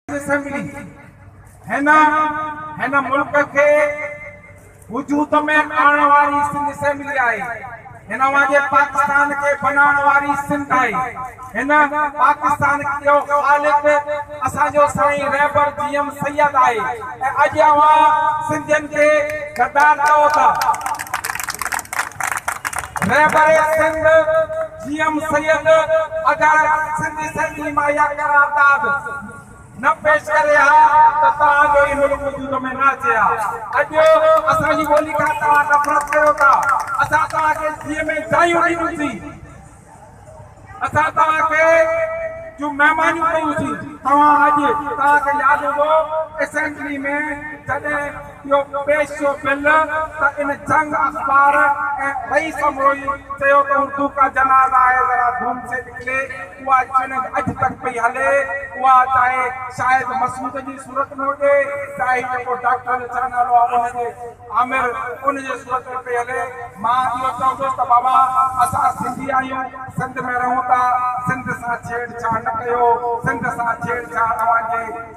assembly هن هن ملڪ کي وجود ۾ آڻڻ واري سنڌ اسيمبلي آهي هن اوهان جي پاڪستان کي بنائڻ واري سنڌ آهي هن پاڪستان جو خالق اسان جو سائين رهبر جي ايم سيد آهي ۽ اڄ اوهان سنڌين کي غدار چئو ٿا رهبر سنڌ سي ايم سيد اگر سنڌي سنڌي مان اها قرارداد نه پيش ڪري ها ته توهان جو هي ملڪ وجود ۾ نه اچي ها اڄ اسان جي ٻولي کان توهان نفرت ڪريو ٿا اسان توهان کي جيء ۾ جايون ڏنيون سين اسان توهان کي جون مهمانيون ڪيون سين توهان اڄ توهان کي ياد هوندو اسيمبلي ۾ جڏهن اهو پيشو بل ته ان جنگ اخبار ۽ رئيس امروهي چيو ته اردو ڪا جنازه هي ذرا ڌوم سي نڪلي اها چئلينج اڄ تڪ پئي هلي اها چاهي شاهد مسعود جي صورت ۾ هجي چاهي هي جيڪو ڊاڪٽر جو ڇا نالو آهي ان جي عامر ان جي صورت ۾ پئي هلي مان اهو چوندس ته بابا اسان سنڌي آهيون سنڌ ۾ رهون ٿا سنڌ سان ڇيڙ ڇاڙ نه ڪيو سنڌ سان ڇيڙ ڇاڙ اوهان جي